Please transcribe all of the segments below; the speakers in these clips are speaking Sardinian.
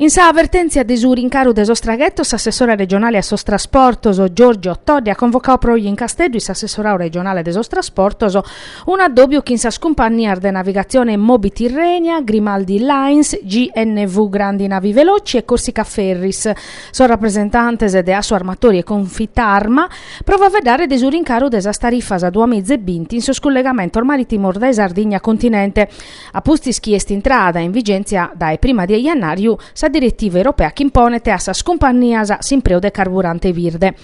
In sa vertèntzia de su rincaru de sos traghetos, s'assessore regionale a sos trasportos, Giorgio Todde, at convocadu pro oje in Casteddu in s'assessoradu regionale de sos trasportos, un'addòbiu chin sas cumpannias de navigatzione Moby Tirrenia, Grimaldi Lines, GNV Grandi Navi Veloci e Corsica Ferries, sos rapresentantes de Assarmatori e Confitarma, pro faeddare de su rincaru de sas tarifas a duamiza e binti in sos cullegamentos marìtimos dae Sardigna a continente. A pustis chi est intrada in vigèntzia dae prima de jannàriu sa diretiva europea chi imponet a sas cumpannias s'impreu de carburante birde,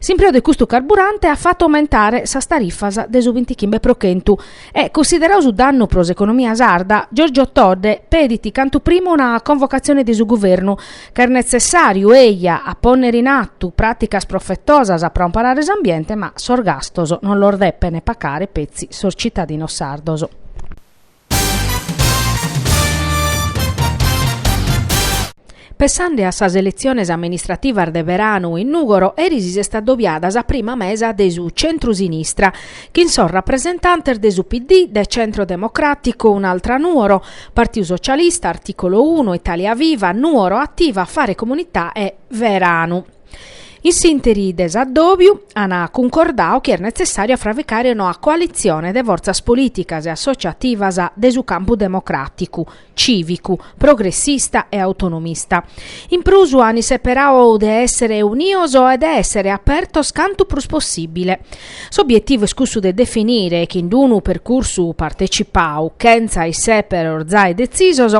s'impreu de custu carburante at fatu aumentare sas tarifas de su bintichimbe pro chentu e, cunsideradu su dannu pro s'economia sarda, Giorgio Todde pedit cantu prima una convocatzione de su Guvernu, ca est netzessàriu, eja, a pònnere in atu pràticas profetosas pro amparare s'ambiente, ma sos gastos non los depent pagare petzi sos citadinos sardos. Pessande a sas eletziones amministrativas de beranu in Nùgoro, eris si est adobiada sa prima mesa de su centru-sinistra, chin sos rapresentantes de su PD, de Centro Democratico, Un'Altra Nuoro, Partiu Socialista, Articolo Uno, Italia Viva, Nuoro Attiva, Fare Comunità e Veranu. In s'ìnteri de s'addòbiu an cuncordadu chi est netzessàriu a fravicare una coalitzione de fortzas polìticas e assotziativas de su campu democràticu, cìvicu, progressista e autonomista. In prus an isseperadu de èssere unidos e de èssere apertos cantu prus possìbile. S'obietivu est cussu de definire, chin d-unu percursu partecipadu, chentza issèperos zai detzisos,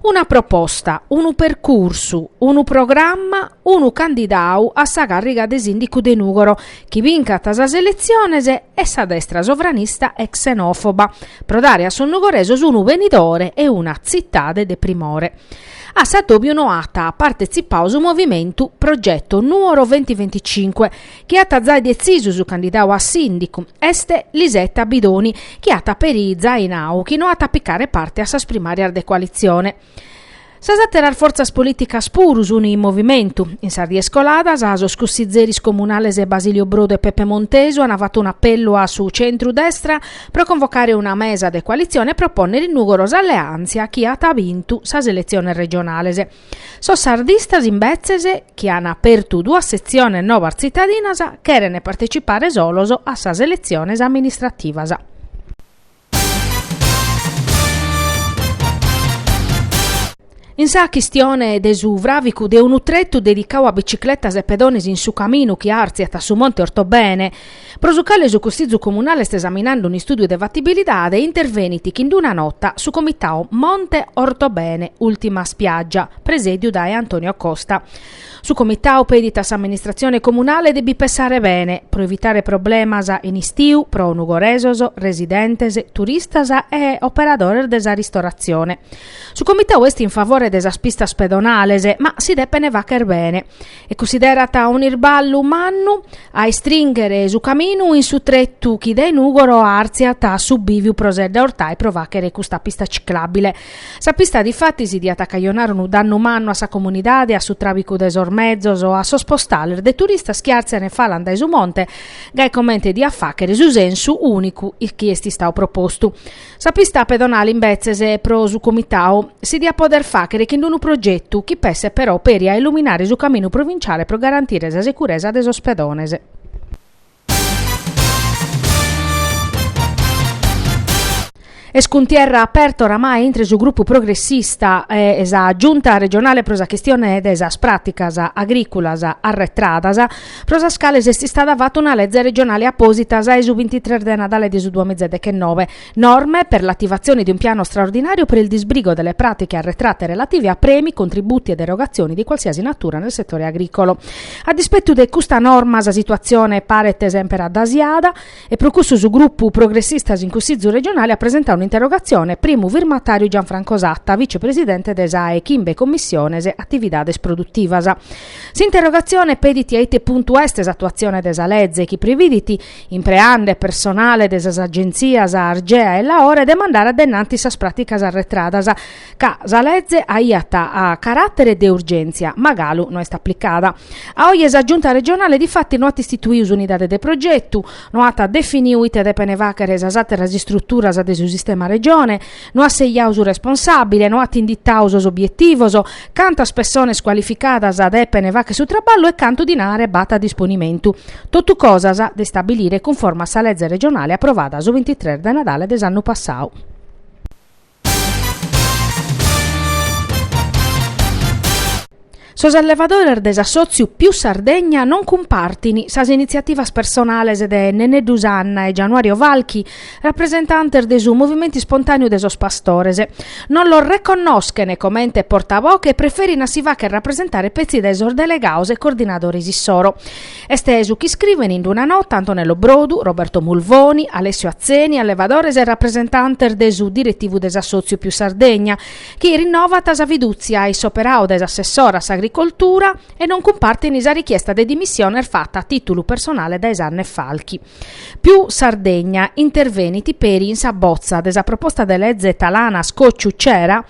Una proposta, unu percursu, unu programma, unu candidadu a sa càrriga de sìndicu de Nùgoro chi bincat sas eletziones e sa destra sovranista e xenòfoba, pro dare a sos nugoresos unu benidore e una tzitade de primore. A s'addòbiu no at partetzipadu su movimentu Progetto Nuoro Ventiventicinque chi at zai detzisu su candidadu a sìndicu, est Lisetta Bidoni, chi at peri zai nau chi no at a picare parte a sas primàrias de coalitzione. Sas àteras fortzas polìticas puru sunt in movimentu. In sas dies coladas, sos cussizeris comunales Basilio Brodu e Peppe Montesu ant fatu un'apellu a su centru-destra pro convocare una mesa de coalitzione e propònnere in Nùgoro s'alleàntzia chi at bintu sas eletziones regionales. Sos sardistas imbetzes, chi an apertu duas setziones nobas tzitadinas, cheren partecipare solos a sas eletziones amministrativas. In sa chistione de su fràvicu de unu tretu dedicadu a bicicletas e pedones in su caminu chi artziat a su monte Ortobene, pro su cale su Cussizu Comunale est esaminande un'istùdiu de fatibilidade, intervenit chi in d-una nota su Comitau Monte Ortobene, Ultima Spiaggia, presèdiu dae Antonio Costa. Su Comitau pedit a s'Amministratzione Comunale de bi pessare bene, pro evitare problemas in istiu pro nugoresos, residentes, turistas e operadores de sa ristoratzione. Su Comitau est in favore de sas pistas pedonales, ma si depene fàghere bene. e cunsiderat unu irballu mannu a istringhere su caminu in su tretu chi dae Nùgoro artziat a su bìviu pro Sedda Ortai pro fàghere custa pista ciclàbile. Sa pista difatis diat acajonare unu dannu mannu a sa comunidade, a su tràbicu de sos mezos o a sos postales de turistas chi àrtzian e falan dae su monte, gai comente diat fàghere su sensu ùnicu chi est istadu propostu. Sa pista pedonale imbetzes pro su Comitau si diat poder fàghere chin unu progetu chi pesset però peri a illuminare su caminu provinciale pro garantire sa securesa de sos pedones. Est cuntierra aperta oramai intre su grupu progressista e sa Giunta regionale pro sa chistione de sas pràticas agrìculas arretradas, pro sas cales est istada fata una leze regionale apòsita sa 'e su bintitres de Nadale de su duamiza e deghennove, Norme per l'attivazione di un piano straordinario per il disbrigo delle pratiche arretrate relative a premi, contributi ed erogazioni di qualsiasi natura nel settore agricolo. A dispettu de custa norma sa situatzione paret semper addasiada e pro cussu su Grupu Progressistas in Cussizu Regionale at presentadu un'interrogatzione, primu firmatàriu Gianfranco Satta, vice-presidente de sa 'e chimbe Commissiones Atividades Produtivas. S'interrogatzione pedit a ite puntu est s'atuatzione de sa leze chi prividit, impreande personale de sas agentzias Argea e Laore, de mandare a dennanti sas pràticas arretradas, ca sa leze aiat caràtere de urgèntzia, ma galu no est aplicada. A oje sa Giunta regionale difatis no at istituiu s'unidade de progetu, no at definiu ite depene fàghere sas àteras istruturas de su sistema Regione, No at sejau su responsàbile, no at inditau sos obietivos, cantas pessones cualificadas depene fagher su traballu e cantu dinare b'at a disponimentu. Totu cosas de istabilire cunforma a sa leze regionale aprovada su bintitres de Nadale de s'annu passau. Sos allevadores de s'assòtziu Più Sardegna non cumpartint sas initziativas personales de Neneddu Sanna e Gianuario Falchi, rapresentantes de su Movimentu Ispontàneu de sos Pastores. Non los reconnoschent comente portavoche e preferint a si fàghere rapresentare petzi dae sos delegados e coordinadores issoro. Est su chi iscrivent in d-una nota Antonello Brodu, Roberto Mulvoni, Alessio Atzeni, allevadores e rapresentantes de su diretivu de s'assòtziu Più Sardegna, chi rinnovant sa fidùtzia in s'operadu dae s'assessora a s'Agricoltura e non cumpartin sa richiesta de dimissiones fata a tìtulu personale dae Zuanne Falchi. Più Sardegna intervenit peri in sa botza de sa proposta de leze Talanas Cocciu Cera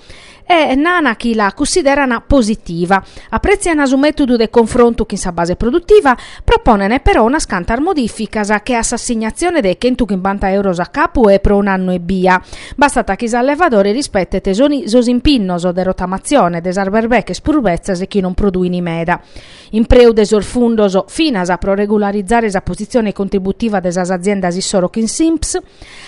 e nana chi la cunsideran positiva, aprètziana su mètodu de confrontu chin sa base produtiva Proponent però unas cantas modificas che a s'assignatzione de chentuchimbanta euros a capu pro un'annu ebbia. Bastat chi s'allevadore rispetet sos impinnos de rotamatzione de sas berbeches prus betzas e chi non produin meda. Impreu de sos fundos finas pro regularizare sa positzione contributiva de sas aziendas issoro chin s'INPS.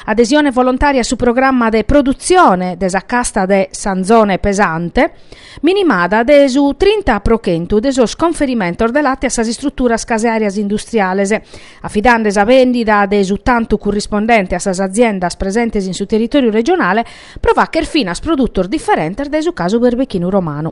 Adesione volontària a su programma de produtzione de sa casta de s'anzone pesante. minimada de su trinta pro chentu de sos conferimentos de late a sas istruturas caseàrias industriales, afidende sa bèndida de su tantu currispondente a sas aziendas presentes in su territòriu regionale pro fàghere finas produtos diferentes dae su casu berbechinu romanu.